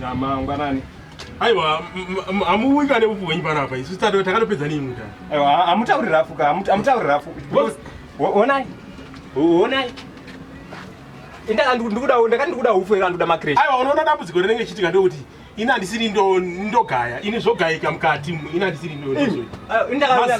Namangwanani. Aiwa amuwika nebufu wenyu panapa isu tado takatopedza nei muta. Aiwa amutauri rafu ka amutauri rafu. Onai. Onai. Inda ndikuda ndakati ndikuda ufu era ndoda makresh. Aiwa unoona dambudziko rinenge chitika ndokuti ina ndisiri ndo ndogaya ini zvogayika mukati ina ndisiri ndo. Inda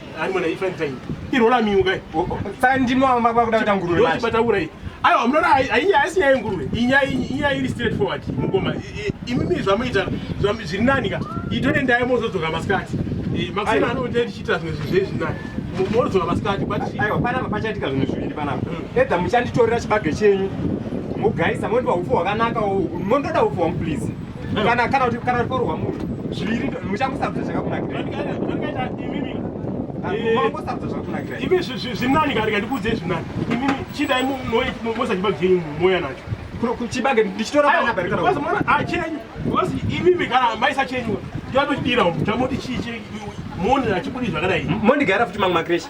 Ari mwana ifan time. Irola miuka. Saka ndimo mama kwakuda kuita nguruve. Ndochi bata urai. Ayo hamuna hainya haisi nyaya yenguruve. Inya inya iri straight forward. Mukoma imimi zvamuita zvamu zviri nani ka. Itore ndaya mozodzoka masikati. Eh makusana anoita tichita zvinhu zvezvi nani. Mozodzoka masikati but ayo pana pachaitika zvinhu zviviri pana. Hmm. Edza muchanditorera chibage chenyu. Mugaisa mondiwa ufu hwakanaka. Mondoda ufu wangu please. kana kana kuti kana rikorwa munhu zviviri muchangosarudza zvakakunakira imi zvinani kari kandikuudze zvinani imi chidai mosachiba byenyu moya nacho kuchibage ndichitora chenyu because imimi kana maisa chenyu yatochidira chamoti chii monira chibudi zvakadai mondigara futi mamwe makreshi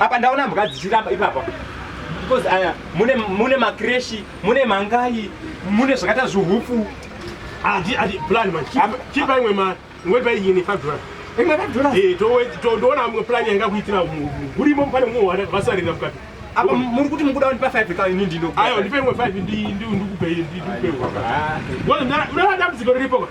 apa ndaona mbwa dzichiramba ipapa because aya mune mune makreshi mune mangai mune zvakaita zvihufu adi adi plan man chipa imwe mari ngoipa iyini 5 dollars imwe 5 dollars eh to ndoona amwe plan yanga kuitira murimo pane mumwe wada vasarira mukati apa muri kuti mukuda ndipa 5 ka ini ndino ayo ndipe imwe 5 ndi ndi ndikupe ndi ndikupe ah. wona ndara ndara dambudziko riripo